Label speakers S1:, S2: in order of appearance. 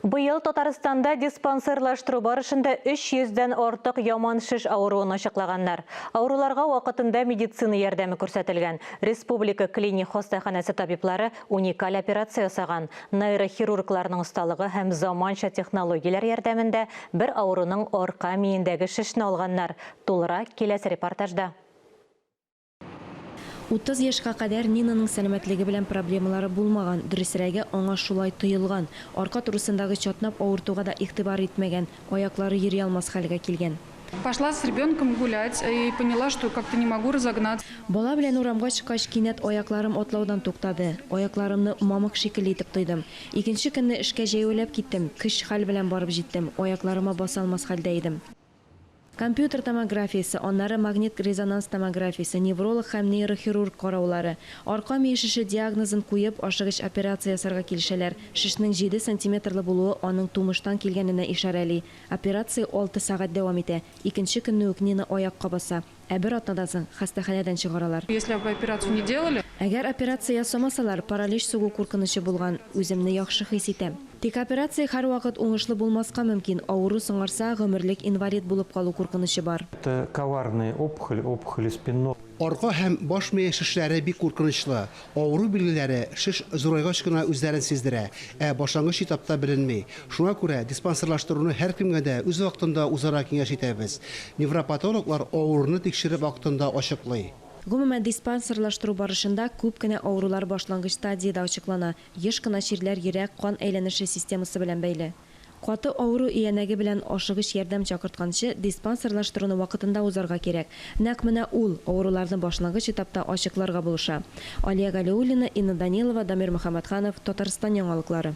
S1: Быел Татарстанда диспансерлаштыру барышында 300 дән артык яман шеш авыруын ачыклаганнар. Авыруларга вакытында медицина ярдәме күрсәтелгән. Республика клиник хастаханәсе табиблары уникаль операция ясаган. Нейрохирургларның осталыгы һәм заманча технологияләр ярдәмендә бер авыруның арка миендәге шешне алганнар. Тулырак киләсе репортажда.
S2: Утыз яшькә кадәр Нинаның сәламәтлеге белән проблемалары булмаган, дөресрәге, аңа шулай тоелган. Арка турысындагы чатнап авыртуга да игътибар итмәгән, аяклары йөри алмас хәлгә килгән. Пошла с ребенком
S3: гулять и поняла, что как-то не могу разогнаться. Бала белән урамга
S2: чыккач, кинәт аякларым атлаудан туктады. Аякларымны мамык шикелле итеп тойдым. Икенче көнне эшкә җәяүләп киттем, көч-хәл белән барып җиттем, аякларыма баса алмас хәлдә идем. Компьютер томографиясе, аннары магнит-резонанс томографиясе, невролог һәм нейрохирург караулары. Арка мие шеше диагнозын куеп, ашыгыч операция ясарга килешәләр. Шешнең җиде сантиметрлы булуы аның тумыштан килгәненә ишарәли. Операция алты сәгать дәвам итә. Икенче көнне үк Нина аякка баса. Ә бер атнадан соң хастаханәдән чыгаралар. Если бы операцию не
S3: делали. Әгәр операция
S2: ясамасалар, паралич сугу куркынычы булган. Үземне яхшы хис итәм. Тик операция һәрвакыт уңышлы булмаска мөмкин, авыру соңарса, гомерлек инвалид булып калу куркынычы бар. Это коварные
S4: опухоли, опухоли спинного. Арка һәм баш
S5: мие шешләре бик куркынычлы. Авыру билгеләре шеш зурайгач кына үзләрен сиздерә, ә башлангыч этапта беленми. Шуңа күрә диспансерлаштыруны һәркемгә дә үз вакытында узарга киңәш итәбез. Невропатологлар авыруны тикшереп вакытында ачыклый. Гомумән,
S2: диспансерлаштыру барышында күп кенә авырулар башлангыч стадиядә ачыклана, еш кына чирләр йөрәк, кан әйләнеше системасы белән бәйле. Каты авыру иянәге белән ашыгыч ярдәм чакыртканчы, диспансерлаштыруны вакытында узарга кирәк. Нәкъ менә ул, авыруларны башлангыч этапта ачыкларга булыша. Алия Галиуллина, Инна Данилова, Дамир Мөхәммәтханов, Татарстан яңалыклары.